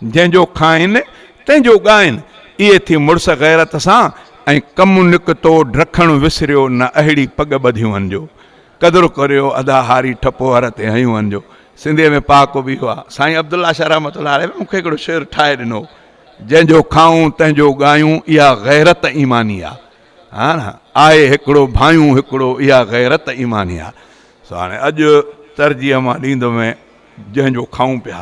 جنهن جو کائن، تنهن جو ڳائن. اهي ٿي مڙس غيرت سان ۽ ڪم نڪتو ڊکڻ وسريو نه اهڙي پڳ ٻڌيون هن جو قدر ڪريو ادا هاري ٺپو هر تي هنيون هن جو سنڌي ۾ پاڪو به اهو آ. سائين عبدالله شاهه رحمة الله عليه به مون کي هڪڙو شعر ٺاهي ڏنو هو. جنهن جو کائون تنهن جو ڳايون اها غيرت ايماني آ ها نه آهي هڪڙو ڀانيون هڪڙو اها غيرت ايماني آ سو هاڻي اڄ ترجيح مان ڏيندو مين جنهن جو کائون پيا.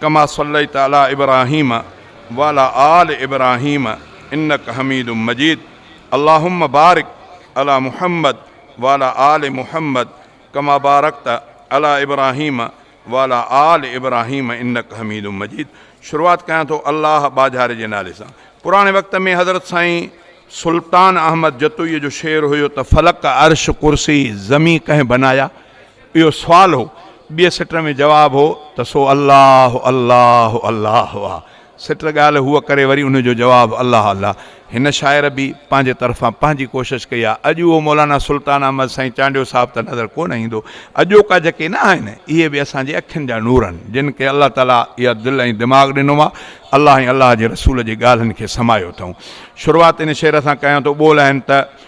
ڪما صليت علي ابراهيم وعلي آل ابراهيم انک حميد مجيد اللهم بارڪ علي محمد وعلي آل محمد ڪما بارڪت علي ابراهيم وعلي آل ابراهيم انک حميد مجيد شروعات ڪيان ٿو الله ٻاجهاري جي نالي سان پراڻي وقت ۾ حضرت سائين سلطان احمد جتوئي جو شعر هيو ته فلڪ عرش ڪرسي زمين ڪنهن بنايا. اهو سوال هو. ٻيء سٽ ۾ جواب هو ته سو الله الله الله آ. سٽ ڳالهه هوء ڪري وري ان جو جواب الله الله. هن شاعر به پنهنجي طرفان پنهنجي ڪوشش ڪئي آ. اڄ اهو مولانا سلطان احمد سائين چانڊيو صاحب ته نظر ڪونه ايندو. اڄوڪا جيڪي نه آهن، اهي به اسان جي اکين جا نور آهن، جن کي الله تعاليٰ اها دل ۽ دماغ ڏنو آ. الله ۽ الله جي رسول جي ڳالهن کي سمايو اٿئون. شروعات ان شعر سان ڪيان ٿو، ٻول آهن ته.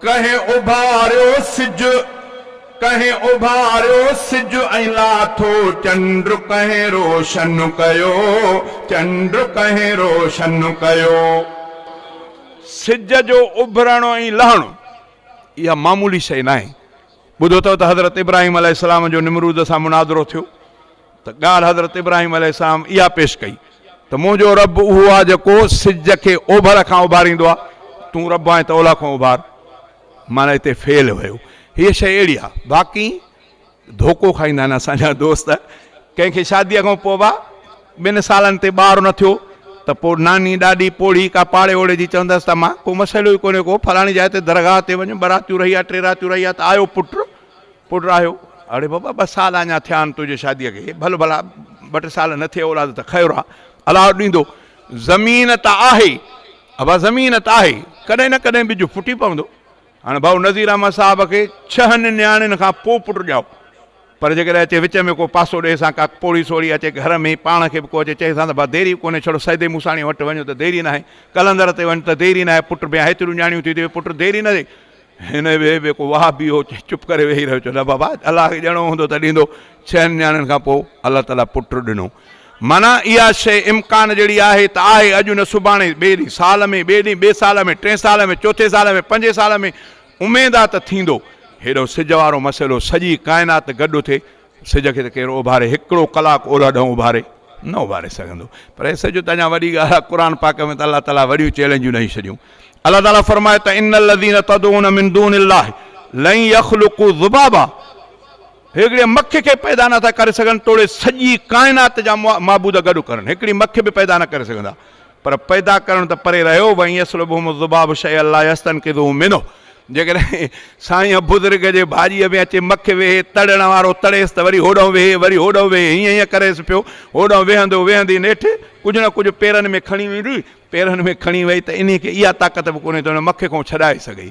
ڪنهن اڀاريو سج، ڪنهن اڀاريو سج ۽ لاٿو چنڊ ڪنهن روشن ڪيو، چنڊ ڪنهن روشن ڪيو. سج جو اڀرڻ ۽ لهڻ اها معمولي شيء ناهي. ٻڌو اٿئو ته حضرت ابراهيم عليه السلام جو نمرود سان مناظرو ٿيو. ته ڳالهه حضرت ابراهيم عليه السلام اها پيش ڪئي ته منهنجو رب اهو آهي جيڪو سج کي اوڀر کان اڀاريندو آهي، تون رب آهين ته اولهه کان اڀار. معنيٰ هتي فعل هيو. هيء شيء اهڙي آهي. باقي ڌوڪو کائيندا آهن اسان جا دوست. ڪنهن کي شاديء کان پوء با ٻن سالن تي ٻار نه ٿيو ته پوء ناني، ڏاڏي، پوڙهي ڪا پاڙي اوڙي جي چوندس ته مان ڪو مسئلو ئي ڪونهي ڪو، فلاڻي جاء تي درگاهه تي وڃ، ٻه راتيون رهي آ، ٽي راتيون رهي آ ته آيو پٽ، پٽ راهيو، اڙي بابا ٻه سال اڃا ٿيا آهن تنهنجي شاديء کي، ڀل ڀلا ٻه ٽي سال نه ٿئي اولاد ته خير آ، الله ڏيندو، زمين ته آهي، ابا زمين ته آهي، ڪڏهن نه ڪڏهن ٻج ڦٽي پوندو، هاڻ ڀائو نذير احمد صاحب کي ڇهن نياڻين کان پوء پٽ ڄائو، پر جيڪڏهن اچي وچ ۾ ڪو پاسو ڏي سان ڪا پوڙهي سوڙهي اچي گهر ۾ پاڻ کي به ڪو اچي چئي سان ته ڀا ديري به ڪونهي ڇڙو سيدي موساڻيء وٽ وڃ ته ديري ناهي، قلندر تي وڃ ته ديري ناهي، پٽ بيان هيتريون نياڻيون ٿي ته پٽ ديري نه ٿئي، هن ويهي به ڪو واهه بيهو چپ ڪري ويهي رهيو چيو نه بابا الله کي ڏيڻو هوندو ته ڏيندو ڇهن نياڻين کان پوء الله تعالي پٽ ڏنو معنيٰ اها شيء امڪان جهڙي آهي ته آهي اڄ نه سڀاڻي ٻئي ڏينهن سال ۾ ٻئي ڏينهن ٻئي سال ۾ ٽئين سال ۾ چوٿين سال ۾ پنجين سال ۾ اميد آهي ته ٿيندو هيڏو سج وارو مسئلو سڄي ڪائنات گڏ اٿي سج کي ته ڪير اوڀاري هڪڙو ڪلاڪ اولهه ڏانهن اوڀاري نه اوڀاري سگهندو پر هي سج ته اڃا وڏي ڳالهه آهي قرآن پاڪ ۾ ته الله تعالي وڏيون چئلينجون ڏئي ڇڏيون الله تعالي فرمائي ته ان الذين تدعون من دون الله لن يخلقوا ذبابا هڪڙي مکي کي پيدا نه ٿا ڪري سگهن توڙي سڄي ڪائنات جا معبود گڏ ڪرن هڪڙي مکي به پيدا نه ڪري سگهندا پر پيدا ڪرڻ ته پري رهيو، وان يسلبهم الذباب شيئا لا يستنقذوه منه جيڪڏهن سائين بزرگ جي ڀاڄيء ۾ اچي مک ويهي، تڙڻ وارو تڙيس ته وري هوڏانهن ويهي، وري هوڏانهن ويهي، هيئن هيئن ڪريس پيو، هوڏانهن ويهندو ويهندي نيٺ ڪجهه نه ڪجهه پيرن ۾ کڻي ويندي، پيرن ۾ کڻي وئي ته انهيء کي اها طاقت به ڪونهي ته ان مک کان ڇڏائي سگهي.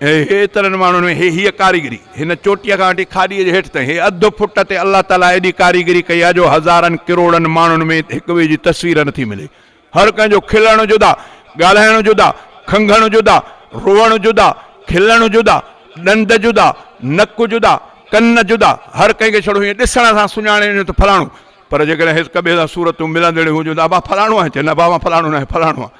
ايترن ماڻهن ۾ هي هيء ڪاريگري، هن چوٽيء کان وٺي کاڏيء جي هيٺ تائين، هي اڌ فٽ تي الله تعاليٰ ايڏي ڪاريگري ڪئي آهي جو هزارن ڪروڙن ماڻهن ۾ هڪ ٻئي جي تصوير نٿي ملي. هر ڪنهن جو کلڻ جدا، ڳالهائڻ جدا، کنگهڻ جدا، روئڻ جدا، کلڻ جدا، ڏند جدا، نڪ جدا، ڪن جدا، هر ڪنهن کي ڇڙو هيئن ڏسڻ سان سڃاڻي وڃو ته فلاڻو، پر جيڪڏهن هڪ ٻئي سان صورتون ملندڙيون هجن ته ابا فلاڻو آهين چئه نه ابا مان فلاڻو ناهيان فلاڻو آهيان.